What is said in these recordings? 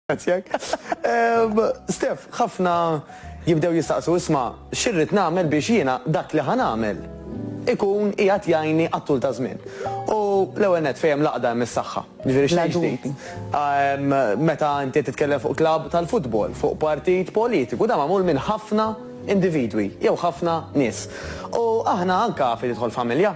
Grazzjak. Stef, ħafna jibdew jistaqsu isma' xirrid nagħmel biex jiena dak li ħan għamel ikun qiegħed jgħinni għat-tul ta' żmien. U l-ewwel net fejn laqda hemm is-saħħa. Ġifieri xejn ġdid. Meta inti titkellem fuq klabb tal-futbol, fuq partit politiku, dan magħmul minn ħafna individwi jew ħafna nies. U aħna anke fi tidħol familja.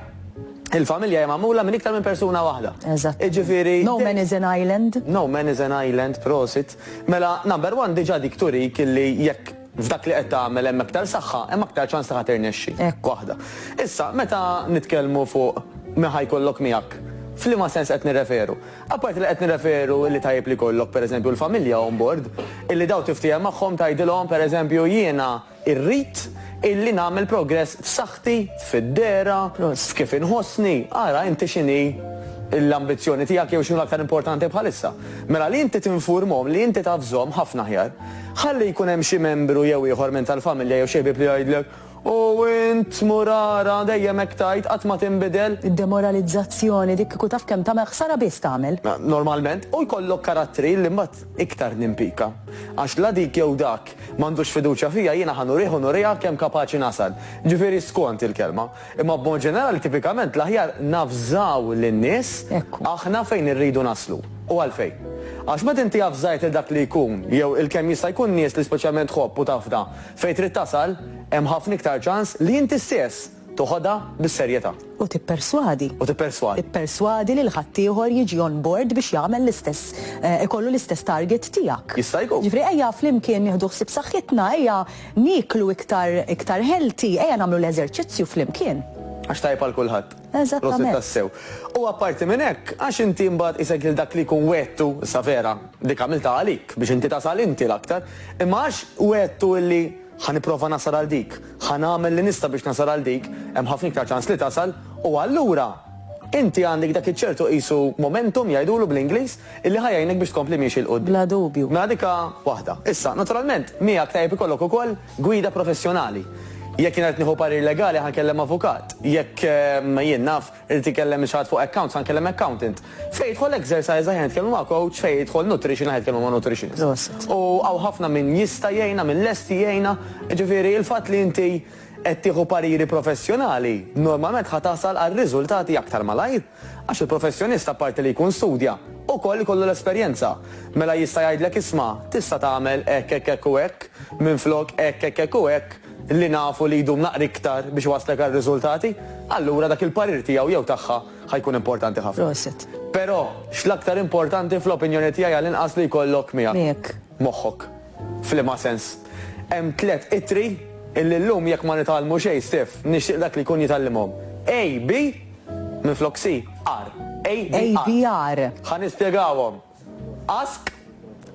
Il-familja hija magħmula minn iktar minn persuna waħda. Eżattament. Jiġifieri. No man is an island. No man is an island, prosit. Mela, number one diġà dik turik illi jekk f'dak li qed tagħmel hemm aktar saħħa, hemm aktar ċans li ħa tirnexxi. Hekk. Waħda. Issa, meta nitkellmu fuq min ħa jkollok miegħek, f'liema sens qed nirreferu? Apparti li qed nirreferu illi tajjeb li jkollok, pereżempju, l-familja on board, illi dawn tiftiehem magħhom tgħidilhom, pereżempju, jiena, Irrid illi nagħmel progress f'saħħti, fid-dehra, f'kif inħossni. Ara inti x'inhi l-ambizzjoni tiegħek jew x'inhu l-aktar importanti bħalissa. Mela li inti tinfurmhom li inti taf żomm ħafna aħjar. Ħalli jkun hemm xi membru jew ieħor minn tal-familja jew xi ħbieb li jgħidlek, U int, mur ara, dejjem hekk tgħid, qatt ma tinbidel. Id-demoralizzazzjoni dik kieku taf kemm tagħmel ħsara biss tagħmel. Normalment, u jkollok karattri li mbagħad. iktar nimpika. Għax la dik jew dak m'għandux fiduċja fija, jiena ħa nurih u nuriha kemm kapaċi nasal. Ġifieri skont il-kelma. Imma b'mod ġenerali tipikament l-aħjar navżaw lin-nies aħna fejn irridu naslu. U għalfejn? Għax meta inti avżajt lil dak li jkun jew il-kemm jista' jkun nies li speċjalment tħobb u tafda fejn trid tasal, hemm ħafna iktar ċans li inti stess, Toħodha bis-serjetà. U tipperswadi. U tipperswadi. Ipperswadi lil ħaddieħor jiġi on board biex jagħmel l-istess, ikollu l-istess target tiegħek. Jista' jkun. Jiġifieri ejja flimkien nieħdu ħsieb saħħitna, ejja nieklu iktar, iktar healthy, ejja nagħmlu l-eżerċizzju flimkien. Għax tajjeb għal kulħadd. Eżattament. Prosit tassew. U apparti minn hekk, għax inti imbagħad qisek lil dak li jkun wegħdtu, issa vera, dik għamiltha għalik, biex inti tasal inti l-aktar, imma għax wegħdtu illi, Ħa nipprova nasal għal dik. Ħa nagħmel li nista' biex nasal għal dik. Hemm ħafna iktar ċans li tasal. U allura, inti għandek dak iċ-ċertu qisu momentum, jgħidulu bl-Ingliż, illi ħa jgħinek biex tkompli miexi 'l quddiem. Bla dubju. Mela dik waħda. Issa, naturalment, miegħek tajjeb ikollok ukoll gwida professjonali. Jekk jiena rrid nieħu parir legali ħa nkellem avukat. Jekk jien naf Irid ikellem min xaħat fuq accounts, ħa nkellem accountant. Fejn jidħol exercise aħjar nitkellmu ma' coach, fejn jidħol nutrition aħjar nitkellmu ma' nutritionist. U hawn ħafna min jista' jgħinna, min lesti jgħinna. Jiġifieri il-fatt li inti qed tieħu pariri professjonali, normalment ħa tasal għal riżultati aktar malajr. Għax il-professjonist apparti li jkun studja, ukoll ikollu l-esperjenza. Mela jista' jgħidlek isma' tista' tagħmel hekk hekk hekk u hekk, minflok hekk hekk hekk u hekk. li nafu li jdum naqra iktar biex iwasslek għal riżultati, allura dak il-parir tiegħu jew tagħha ħa jkun importanti ħafna. Però, x'l-aktar importanti fl-opinjoni tiegħi għall-inqas li jkollok miegħek moħħok. F'liema sens? Hemm tliet ittri illi llum jekk ma nitgħallmu xejn stiff, nixtieq dak li jkun jitgħallimhom. A, B, minflok C, R. A, B, R. Ħa nispjegawhom. Ask,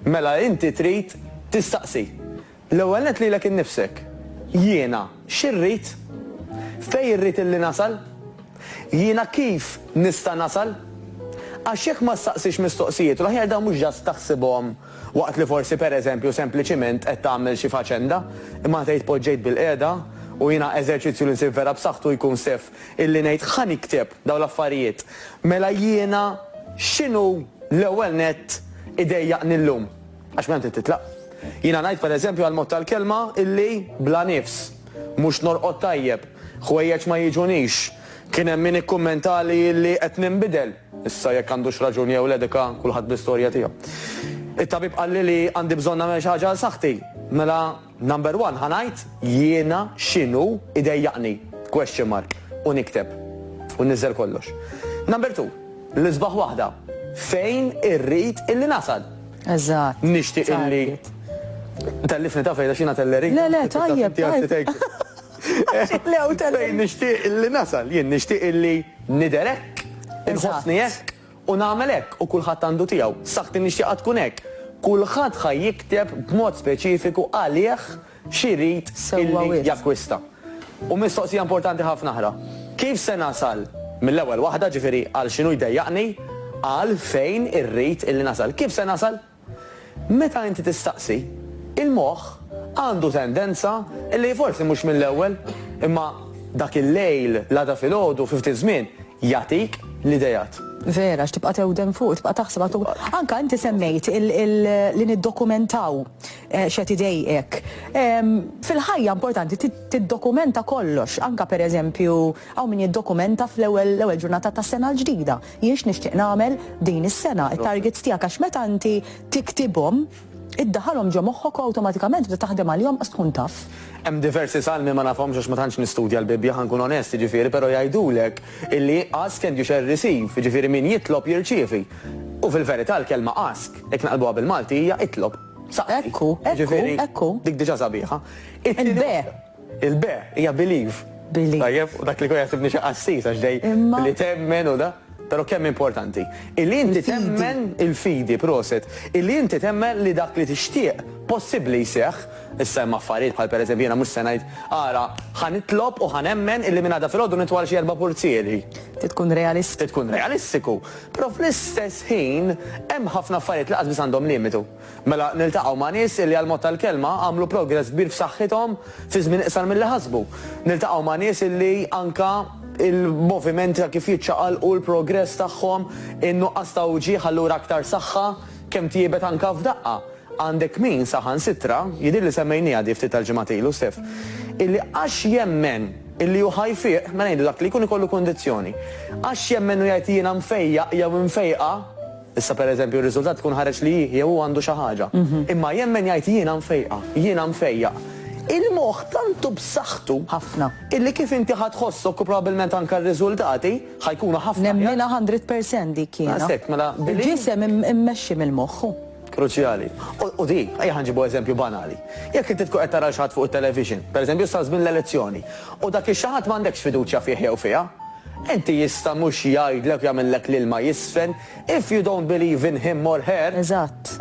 mela inti trid tistaqsi. L-ewwel nett lilek innifsek. Jiena xi rrid? Fejn irrid illi nasal? Jiena kif nista' nasal? Għax jekk ma ssaqsix mistoqsijiet l-aħjar dawn mhux ġast taħsibhom waqt li forsi per eżempju sempliċiment qed tagħmel xi faċenda, imma tgħid poġġejt bilqiegħda u jiena eżerċizzju li nsib vera b'saħħtu jkun sef illi ngħid ħa nikteb dawn l-affarijiet. Mela jiena x'inhu l-ewwel nett idejjaqni llum? Għax minn hemm trid titlaq. Jiena ngħid pereżempju għall-mod tal-kelma illi bla nifs, mhux norqod tajjeb, ħwejjeġ ma jiġunix. Kien hemm min ikkummentali illi qed ninbidel. Issa jekk għandux raġun jew le dik kulħadd bl-istorja tiegħu. It-tabib qalli li għandi bżonn nagħmel xi ħaġa għal saħħti. Mela Number one ħa ngħid jiena x'inhu jdejjaqni? Question mark. U nikteb. U nniżżel kollox. Number two, l-isbaħ waħda, fejn irrid illi nasal? Eżatt. Nixtieq illi. Tellifni ta' fejda xina telleri. Le, le, tajjeb. Fejn nixtieq illi nasal, jien nixtieq illi niderek, inħossni hekk. U nagħmel hekk u kulħadd għandu tiegħu. Saħħti nixtieqha tkun hekk. Kulħadd ħa jikteb b'mod speċifiku għalih x'irid illi jakkwista. U mistoqsija importanti ħafna oħra, kif se nasal mill-ewwel waħda, ġifieri għal x'inhu jdejjaqni, għal fejn irrid illi nasal. Kif se nasal? Meta inti tistaqsi, il-moħħ għandu tendenza li forsi mhux mill-ewwel, imma dak il-lejl, l-għada filgħodu, fi ftit żmien, jagħtik l-ideat. Vera, għax tibqa' tewdem fuq, tibqa' taħseb għad u. Anke inti semmejt li niddokumentaw x'qed idejqek. Fil-ħajja importanti tiddokumenta kollox, anke pereżempju hawn min jiddokumenta fl-ewwel ġurnata tas-sena l-ġdida. Jien x'nixtieq nagħmel din is-sena, it-targets tiegħek għax meta inti tiktibhom, iddaħħalhom ġo moħħok u awtomatikament tibda taħdem għalihom qas tkun taf. Hemm diversi salmi ma nafhomx għax ma tantx nistudja l-Bibbja ħa nkun onest, jiġifieri, però jgħidulek illi ask and you shall receive, jiġifieri min jitlob jirċievi. U fil-verità l-kelma ask, jekk naqlbuha bil-Malti, hija itlob. Saqsi. Ekku, ekku, ekku. Jiġifieri dik diġà sabiħa. Il-be. Il-be hija believe. Believe. Tajjeb, u dak li jkun jaħsibni xi qassis għax dej li temmen u da. Però kemm importanti. Illi inti temmen il-fidi, proset, illi inti temmen li dak li tixtieq possibbli jseħħ, issa hemm affarijiet bħal pereżempju jiena mhux se ngħid ara ħa nitlob u ħa nemmen illi minn għada filgħodu nitwal xi erba' purzieri. Trid tkun realist. Trid tkun realistiku. Però fl-istess ħin hemm ħafna affarijiet li qas biss għandhom limitu. Mela niltaqgħu ma' nies li għall-mod tal-kelma għamlu progress kbir f'saħħithom fi żmien iqsar milli ħasbu. Niltaqgħu ma' nies li anke l-moviment ta' kif jiċċaqalqu, l-progress tagħhom, in-nuqqas ta' uġigħ allura aktar saħħa, kemm tjiebet anke f'daqqa. Għandek min saħansitra, jidhirli semmejnieha di ftit tal-ġimgħat ilu, Stef, illi għax jemmen illi hu ħa jfiq, mela ngħidu dak li jkun ikollu kundizzjoni, għax jemmen u jgħid jiena mfejjaq jew imfejqa, Issa pereżempju r-riżultat ikun ħareġ li hi jew hu għandu xi ħaġa. Imma jemmen jgħid jiena mfejqa, jiena mfejjaq. Il-moħħ tant hu b'saħħtu. Ħafna. Illi kif inti ħa tħossok u probabbilment anke r-riżultati ħa jkunu ħafna aħjar. Nemminha hundred percent dik jiena. Daqshekk, mela billi. Il-ġisem immexxi mill-moħħ. Kruċjali. U di, ejja ħa nġibu eżempju banali. Jekk inti tkun qed tara lil xi ħadd fuq it-television, pereżempju issa żmien l-elezzjoni, u dak ix-xi ħadd m'għandekx fiduċja fih jew fiha, Inti jista' mhux jgħidlek u jagħmillek l-ilma jiżfen, if you don't believe in him or her. Eżatt.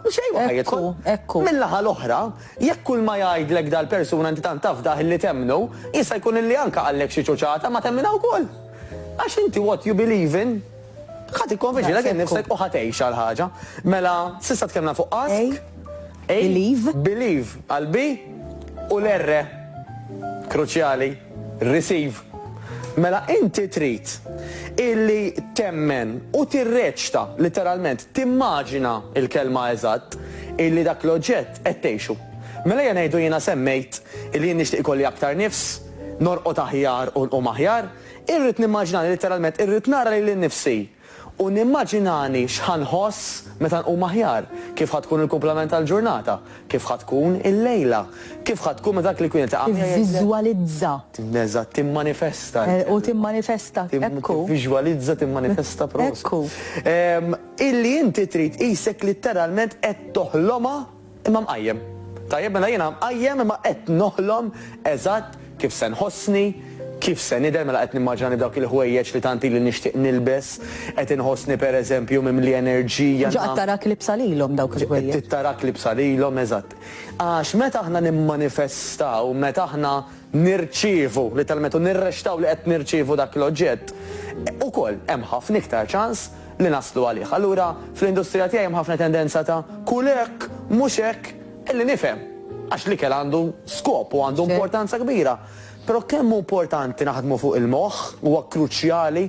Xejn ma ħa jidħol. Ekku, ekku. Min-naħa l-oħra, jekk kulma jgħidlek dal-persuna inti tant tafdah illi temmnu, jista' jkun illi anke qalek xi ċuċata imma temminha wkoll. Għax inti what you believe in, ħa tikkonvinċi lilek innifsek u ħa tgħixha l-ħaġa. Mela, s'issa tkellimna fuq ask, believe, għall-B u l-R kruċjali. Receive. Mela inti trid illi temmen u tirreċta, litteralment timmaġina l-kelma eżatt, illi dak l-oġġett qed tgħixu. Mela ejja ngħidu jiena semmejt illi jien nixtieq ikolli aktar nifs, norqod aħjar u nqum aħjar, irrid nimmaġinani litteralment, irrid nara lili nnifsi U nimmaġinani x'ħa nħoss meta nqum aħjar, kif ħa tkun il-kumplament tal-ġurnata, kif ħa tkun il-lejla, kif ħa tkun meta dak li kien qed iqanqal jgħidlek. Tivviżwalizza. Eżatt, timmanifesta. U timmanifesta, ekku. Tivviżwalizza, timmanifesta, proset. Ekku. Illi inti trid qisek litteralment qed toħlomha Imma mqajjem. Tajjeb, mela jiena mqajjem imma qed noħlom eżatt kif se nħossni, kif se nidher, mela qed nimmaġinani b'dawk il-ħwejjeġ li tant ili nixtieq nilbes, qed inħossni pereżempju mimli enerġija. Ġo qed tarak libsa lilhom dawk il-ħwejjeġ. Qed tarak libsa lilhom, eżatt. Għax meta aħna nimmanifestaw, meta aħna nirċievu, litteralment, u nirrexxtaw li qed nirċievu dak l-oġġett, ukoll hemm ħafna iktar ċans, li naslu għalih. Allura fl-industrija tiegħi hemm ħafna tendenza ta' kul hekk, mhux hekk, illi nifhem, għax l-ikel għandu skop u għandu importanza kbira. Però kemm hu importanti naħdmu fuq il-moħħ, huwa kruċjali,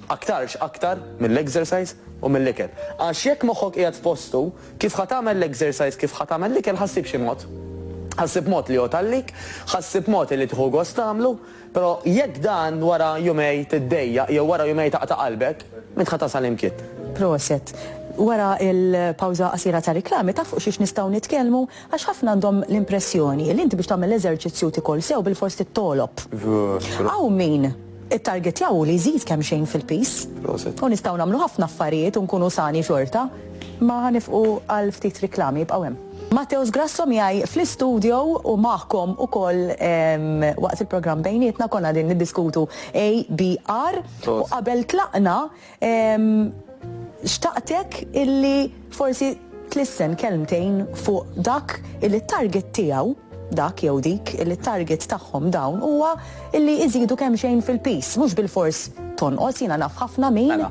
aktarx aktar mill-exercise u mill-ikel. Għax jekk moħħok qiegħed f'postu, kif ħa tagħmel l-exercise, kif ħa tagħmel l-ikel ħa ssib xi mod. Ħa ssib mod li jgħodd għalik, ħa ssib mod illi tieħu gost tagħmlu. Però jekk dan wara jumej tiddejjaq jew wara jumej taqta' qalbek, m'int ħa tasal imkien. Proset. Wara l-pawża qasira tar-riklami taf fuq xiex nistgħu nitkellmu? Għax ħafna għandhom l-impressjoni li inti biex tagħmel l-eżerċizzju u tikol sew bilfors tittolob. Hawn min it-targetja hu li jżid kemmxejn fil-piż. Proset. U nistgħu nagħmlu ħafna affarijiet u nkunu sani xorta. Imma ħa nifqu għal ftit riklami, ibqgħu hemm. Matteo Sgrasso miegħi fl-istudio u magħkom ukoll waqt il-programm bejnietna konna qegħdin niddiskutu ABR u qabel tlaqna xtaqtek illi forsi tlissen kelmtejn fuq dak illi t-target tiegħu dak jew dik illi t-target tagħhom dawn huwa illi iżidu kemmxejn fil-piż mhux bilfors tonqos jiena naf ħafna min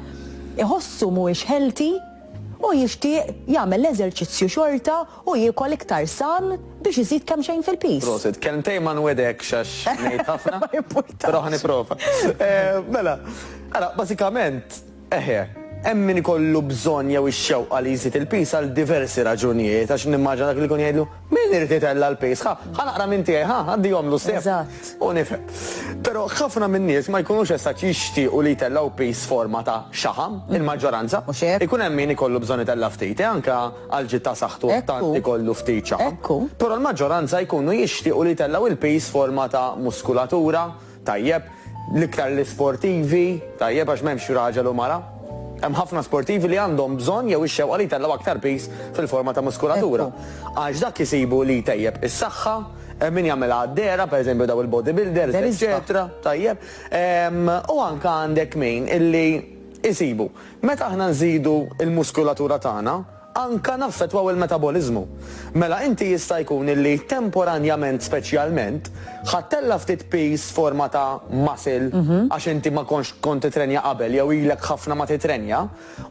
iħossu mhuwiex healthy Hu jixtieq jagħmel l-eżerċizzju xorta u jiekol iktar san biex iżid kemmxejn fil-piż. Prosit. Kelmtejn ma nwegħdekx għax ngħid ħafna. Ma jimpurtax. Però ħa nipprova. Mela, ara, bażikament, eħe, hemm min ikollu bżonn jew ix-xewqa li jżid il-piż għal diversi raġunijiet għax nimmaġina dak li jkun jgħidlu, Min irid itella' l-piż? Ħa, ħa naqra minn tiegħi, ħa, għaddihomlu sew. Eżatt. U nifhem. Però ħafna min-nies ma jkunux esatt jixtiequ li jtellgħu piż forma ta' xaħam, il-maġġoranza. Mhux hekk? Ikun hemm min ikollu bżonn itella' ftit, eh, anke għal ġid ta' saħħtu jekk tant ikollu ftit xaħam. Ekku. Però l-maġġoranza jkunu jixtiequ li jtellgħu l-piż forma ta' muskulatura, Tajjeb, l-iktar l-isportivi, tajjeb għax m'hemmx raġel u mara. Hemm ħafna sportivi li għandhom bżonn jew ix-xewqa li jtellgħu aktar piż fil-forma ta' muskulatura. Għax dak isibu li jtejjeb is-saħħa, hemm min jagħmilha għad-dehra, pereżempju daw il-bodybuilders, eċċetera, tajjeb. U anke għandek min illi jsibu, meta aħna nżidu l-muskulatura tagħna, anke naffettwaw il-metaboliżmu. Mela inti jista' jkun illi temporanjament speċjalment ħadt tella' ftit piż f'forma ta' muscle għax inti ma kontx kont titrenja qabel jew ilek ħafna ma titrenja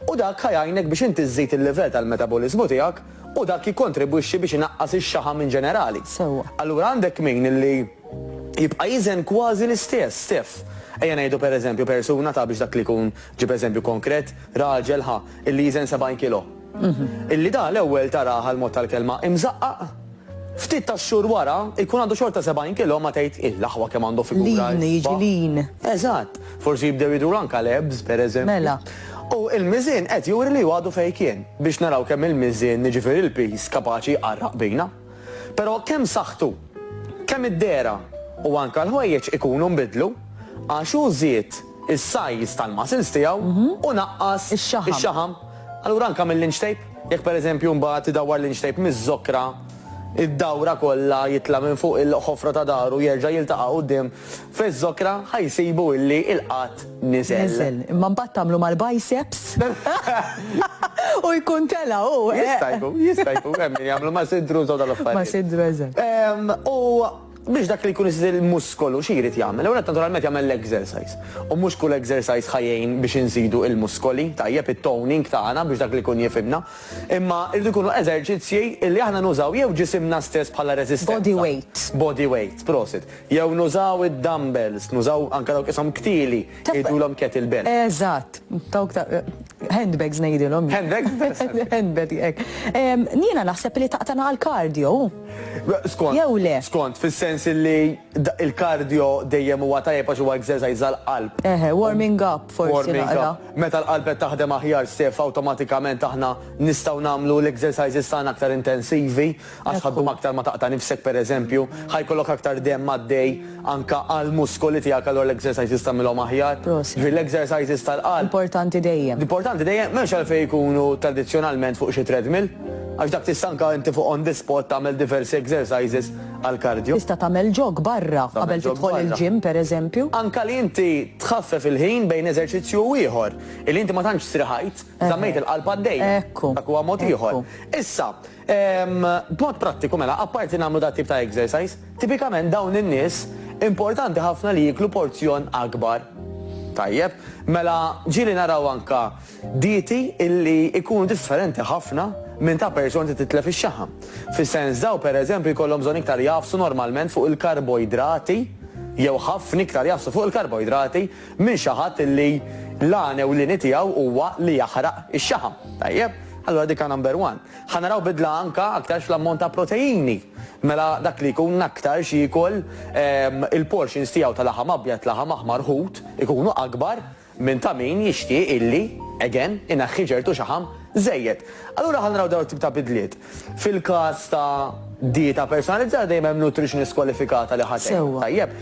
u dak ħa jgħinek biex inti żżid il-livell tal-metaboliżmu tiegħek u dak jikkontribwixxi biex inaqqas ix-xaħam in ġenerali. Sewwa. Allura għandek min illi jibqa' jiżen kważi l-istess, Steph. Ejja ngħidu per eżempju persuna ta' biex dak li jkun ġib eżempju konkret, raġel ħa, illi jiżen 70 kilo, illi da l-ewwel tarah għall-mod tal-kelma imżaqqaq, ftit tax-xhur wara jkun għandu xorta 70 kilo ma tgħid, il aħwa kemm għandu figura l-isbaħ. Lean, jiġi lean. Eżatt. Forsi jibdew jidhru anke l-abs, pereżempju. Mela. U l-miżien qed juri li hu għadu fejn kien, biex naraw kemm il-miżien, jiġifieri l-piż, kapaċi jqarraq bina. Però kemm saħħtu, kemm id-dehra u anke l-ħwejjeġ ikunu nbidlu għax hu żied is-size tal-muscles tiegħu u naqqas ix-xaħam. Allura anke mill-inch tape, jekk pereżempju mbagħad idawwar l-inch tape miż-żokra, id-dawra kollha jitla' minn fuq il-ħofra ta' dahru jerġa' jiltaqa' quddiem Fiż-żokra ħa jsibu illi il-qgħad niżel. Niżel. Imma mbagħad tagħmlu mal-biceps u jkun tela' hu, eh! Jista' jkun, jista' jkun. Hemm min jagħmlu ma' siddru u dawn l-affarijiet. Ma' siddru, eżatt. Ehm, u biex dak li jkun iżżid il-muskolu xi jrid jagħmel? L-ewwel nett naturalment jagħmel l-exercise. U mhux kull exercise ħa jgħin biex inżidu l-muskoli, tajjeb, it-toning tagħna biex dak li jkun jifhimna. Imma jridu jkunu eżerċizzji illi aħna nużaw jew ġisimna stess bħala reżistenza. Body weight. Body weight, prosit. Jew nużaw id-dumbbells, nużaw anke dawk ishom ktili, jgħidulhom kettlebell. Eżatt, dawk ta' handbags ngħidilhom jien. Handbags biss. Handbag, hekk. Jiena naħseb li taqtagħna għall-cardio, hu? Skont. Jew le? Skont, fis-sens li l-cardio dejjem huwa tajjeb għax huwa exercise għall-qalb. Eħe, warming up forsi naqra. Meta l-qalb qed taħdem aħjar, Stef, awtomatikament aħna nistgħu nagħmlu l-exercises tagħna aktar intensivi. Għax ħa ddum aktar ma taqta' nifsek pereżempju, ħa jkollok aktar demm għaddej anke għall-muskoli tiegħek allura l-exercises tagħmilhom aħjar. Ġifieri l-exercises tal-qalb. Importanti dejjem. Importanti dejjem, m'hemmx għalfejn ikunu tradizzjonalment fuq xi treadmill, għax dak tista' anke inti fuq on the spot tagħmel diversi exercises għall-cardio. Tista' tagħmel jog barra qabel tidħol il-gym pereżempju. Anke li inti tħaffef il-ħin bejn eżerċizzju u ieħor, illi inti ma tantx strieħajt, żammejt il-qalb għaddejja. Dak huwa mod ieħor. Issa. B'mod prattiku mela, apparti nagħmlu dat-tip ta' exercise, tipikament dawn in-nies importanti ħafna li jieklu porzjon akbar. Tajjeb, mela ġieli naraw anke dieti illi jkunu differenti ħafna minn ta' person li titlef ix-xaħam. Fis-sens dawn pereżempju jkollhom bżonn iktar jagħfsu normalment fuq il-karboidrati jew ħafna iktar jagħfsu fuq il-karboidrati, minn xi ħadd li l-għan ewlieni tiegħu huwa li jaħraq ix-xaħam. Tajjeb, allura dik number one. Ħa naraw bidla anke aktarx fl-ammont ta' proteini. Mela dak li jkun aktarx jiekol il-portions tiegħu ta' laħam abjad, laħam aħmar, ħut ikunu akbar minn ta' min jixtieq illi, again, ineħħi ċertu xaħam żejjed. Allura ħa naraw dawn it-tip ta' bidliet. Fil-każ ta' dieta personalizzata dejjem hemm nutritionist kwalifikata li ħa tgħinek tajjeb.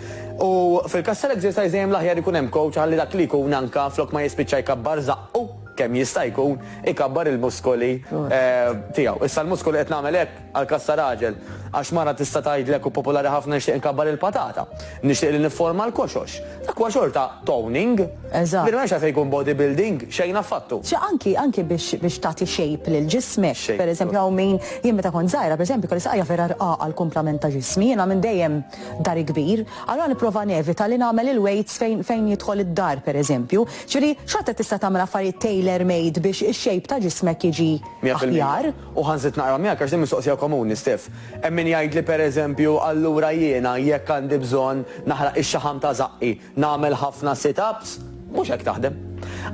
U fil-każ tal-exercise dejjem l-aħjar ikun hemm coach ħalli dak li jkun anke flok ma jispiċċa jkabbar żaqqu kemm jista' jkun, ikabbar il-muskoli tiegħu. Issa l-muskoli qed nagħmel hekk għall-każ ta' raġel għax mara tista' tgħidlek u popolari ħafna nixtieq inkabbar il-patata. Nixtieq li nifforma l-koxox. Dak huwa xorta toning. Eżatt. Din m'hemmx għalfejn ikun body building, xejn affattu. Xi anki, anki biex, biex tagħti shape lil ġismek. Shape. Per eżempju hawn min, jien meta kont żgħira per eżempju kelli saqajja vera rqaqa l-kumplament ta' ġismi, jiena minn dejjem dari kbir, allura nipprova nevita li nagħmel il-weights fejn, fejn jidħol id-dar per eżempju. Ġifieri xorta tista' tagħmel affarijiet tailor made biex ix-shape ta' ġismek jiġi aħjar. U ħa nżid naqra miegħek għax din mistoqsija komuni, Stef. Hemm min jgħidli pereżempju, allura jiena jekk għandi bżonn naħraq ix-xaħam ta' żaqqi, nagħmel ħafna sit-ups? Mhux hekk taħdem.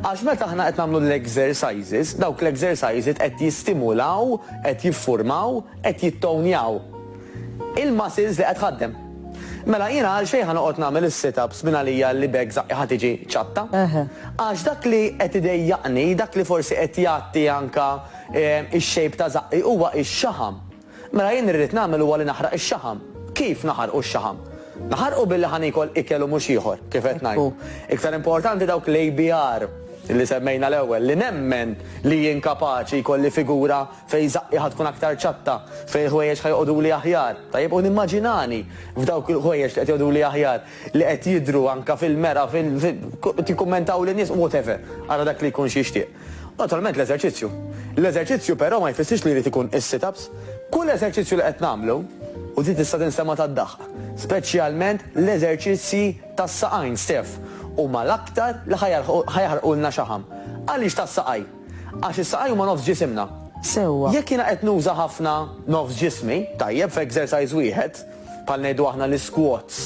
Għax meta aħna qed nagħmlu l-exercises, dawk l-exercises qed jistimulaw, qed jiffurmaw, qed jittownjaw il-muscles li qed tħaddem. Mela jiena għalxejn ħa noqgħod nagħmel is-sit-ups minn għalija li b'hekk żaqqi ħa tiġi ċatta? Għax dak li qed idejjaqni, dak li forsi qed jgħatti anke, Ix-xejb ta' żaqqi huwa x-xaħam. Mela jien li rrid nagħmel huwa li naħraq ix-xaħam. Kif naħarqu x-xaħam? Naħarqu billi ħa niekol ikel u mhux ieħor, kif qed ngħid. Iktar importanti dawk l-ABR li semmejna l-ewwel, li nemmen li jien kapaċi jkolli figura fejn żaqqi ħa tkun aktar ċatta, fejn il-ħwejjeġ ħa joqogħduli aħjar, tajjeb, u nimmaġinani f'dawk il-ħwejjeġ li qed joqogħduli aħjar, li qed jidhru anke fil-mera, fil, tikkummentawli n-nies, whatever, ara dak li jkun x'jixtieq. Naturalment l-eżerċizzju. L-eżerċizzju però ma jfissirx li jrid ikun is-sit-ups. Kull eżerċizzju li qed nagħmlu, u din tista' tinsema' tad-daħq, speċjalment l-eżerċizzji tas-saqajn stess, huma l-aktar li ħa jaħrqulna xaħam. Għaliex tas-saqajn? Għax is-saqajn huma nofs ġisimna. Sewwa. Jekk jiena qed nuża ħafna nofs ġismi, tajjeb, f'exercise wieħed, bħal ngħidu aħna l-isquats,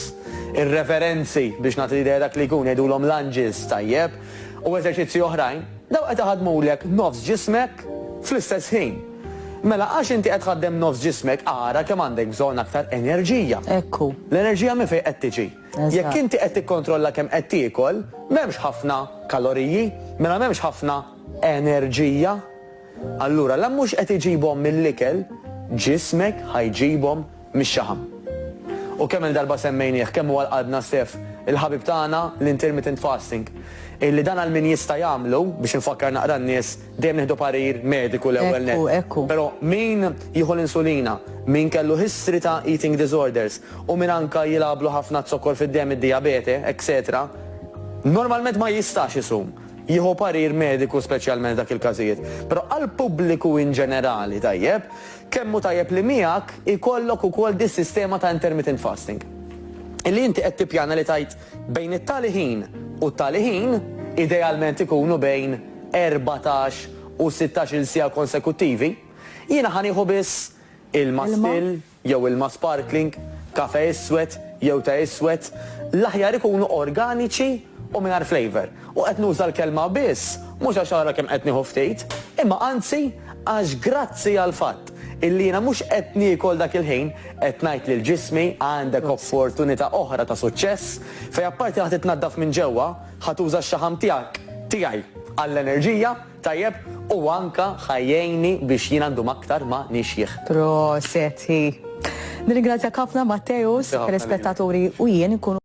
ir-reverenzi biex nagħti l-idea dak li jkun, ngħidulhom lunges, tajjeb, u eżerċizzji oħrajn, dawn qed iħaddmulek nofs ġismek fl-istess ħin. Mela għax inti qed tħaddem nofs ġismek ara kemm għandek bżonn aktar enerġija. Ekku. L-enerġija minn fejn qed tiġi? Jekk inti qed tikkontrolla kemm qed tiekol, m'hemmx ħafna kaloriji, mela m'hemmx ħafna enerġija. Allura la mhux qed iġibhom mill-ikel, ġismek ħa jġibhom mix-xaħam. U kemm-il darba semmejnieh kemm huwa l-qadna Stef, il-ħabib tagħna l-intermittent fasting, illi dan għal min jista' jagħmlu, biex infakkar naqra n-nies, dejjem nieħdu parir mediku l-ewwel nett. Ekku, ekku. Però min jieħu l-insulina, min kellu history ta' eating disorders, u min anke jilgħablu ħafna z-zokkor fid-demm, id-dijabete, etc, normalment ma jistax isum. jieħu parir mediku speċjalment f'dak il-każijiet. Però għall-pubbliku in ġenerali, tajjeb, kemm hu tajjeb li miegħek ikollok ukoll dis-sistema ta' intermittent fasting. Illi inti qed tippjana li tgħid bejn it-tali ħin u t-tali ħin, idealment ikunu bejn erbatax u sittax-il siegħa konsekuttivi, jiena ħa nieħu biss ilma, still, jew ilma sparkling, kafè iswed jew te iswed, l-aħjar ikunu organiċi u mingħajr flavour. U qed nuża l-kelma biss mhux għax ara kemm qed nieħu ftit, imma anzi għax grazzi għall-fatt illi jiena mhux qed niekol dak il-ħin qed ngħid lil ġismi għandek opportunità oħra ta' suċċess fejn apparti ħa titnaddaf minn ġewwa, ħa tuża x-xaħam tiegħek, tiegħi, għall-enerġija, Tajjeb u anka ħa jgħinni biex jiena ndum aktar ma nixjieħ. Proset hi. Nirringrazzjak ħafna Matteus, telespettaturi u jien inkunu.